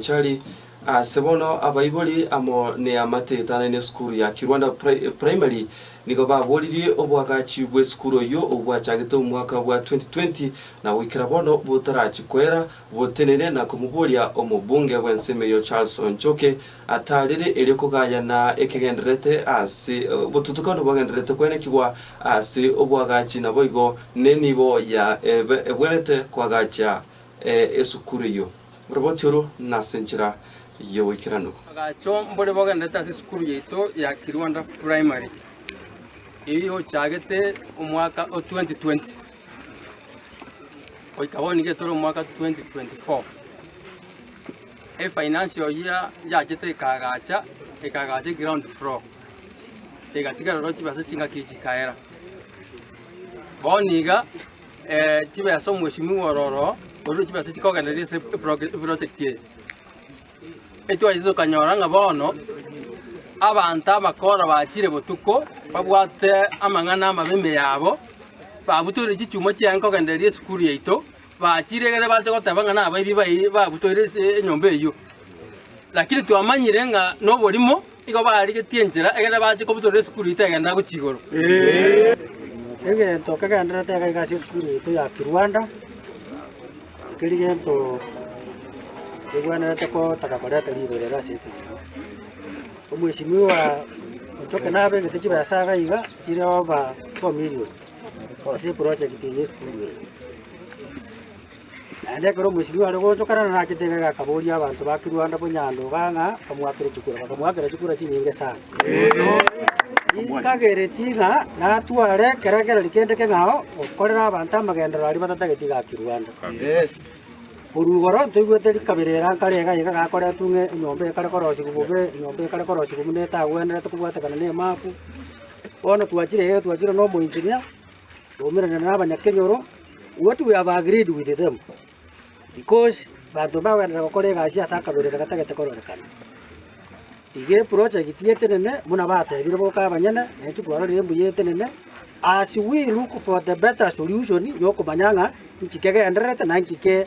Chari ase bono abaibori amo neamateeta ne esukuru ya Kirwanda Primary nigo baboririe oboagachi bw'esukuru eyio obwachagete omwaka bwa 2020 na goikera bono botarachi koera botenene na komoboria omobunge bw'ensemo eyio Charles Onchoke ataarire erio kogayana ekegendererete ase obotutukanu bogendererete koenekigwa ase obwagachi naboigo nenibo ya ebwenerete koagacha esukuru eyio. Oroboti oro nase enchera y'egoikeranu. Agacho mbore bogenderete ase esukuru yaito ya Kirwanda Primary eyio ochagete omwaka o 2020 goika bono nigo etore omwaka 2024. Efinancial year yachete ekagacha ekagacha eground floor egatiga roro chibesa chingaki chikaera. Bono iga chibesa omweshimiwa ororo orure chibesa chikogendereria ase eprojekti eye. Etwachete tokanyora ng'a bono abanto abakora bachire botuko babwate amang'ana amabe ime yabo, babutoire chichuma chiaye nkogendereria esukuru yaito, bachire egere bache goteba ng'a nabaibi bayi babutoire enyomba eyio. Lakini twamanyire ng'a noborimo. Nigo barigetie enchera, ekiagera bachia kobutorera esukuru eito egenderera gochia igoro. Egento kegendererete iga iga ase esukuru yaito ya Kiruanda, ekeri gento kegwenerete kotaka koreta riberera ase ekenyoro. Omwesimigwa ochoke nabegete chibesa iga iga chire over four million ase eprojegti eye ya esukuru eye. Naende ekero omosibwa are goonchokana narachete egega akaboria abanto ba Kirwanda Bonyandonga ng'a bamoakere chikura. Bakamoakera chikura chinyinge sana. Ninkagereti ng'a natware ekerekererio kende keng'ao gokorera abanto amagenderero aria batatageti iga Kirwanda. Korwa igoro ntoigwete rikabere eranka ri'aiga aiga gakoretwe ng'a enyomba ekare korosigwa bobe, enyomba ekare korosigwa buna etagwenerete kobwatekana nemaaku. Bono twachire iga twachire na omoinchinia. Twaumerana nabanyakenyoro, what we have agreed with them, because banto bagoenderera gokora egasi ase akaberero gatagete kororekana. Iga eprojegiti etenene buna batebire boka abanyene, na intwe twarorire embuya etenene, as we look for the better solution yokomanya ng'a inki kegendererete na inki ke.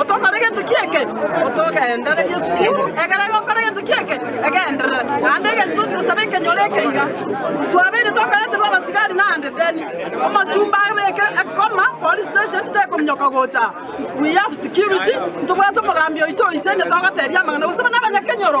Otokore gento ki'eke, otogenderere Yesu Kristo. Ekero agokora gento ki'eke, egenderere. Naende egento tochi gosaba ekenyoro eke iga, twabeire tokoeterwa abasigari naende then omocumba abeke ekoma police station tekominyoka gocha aa. We have security, ntobwate omogambi oito oise onye togoteebia amang'ana gose buna abanyakenyoro.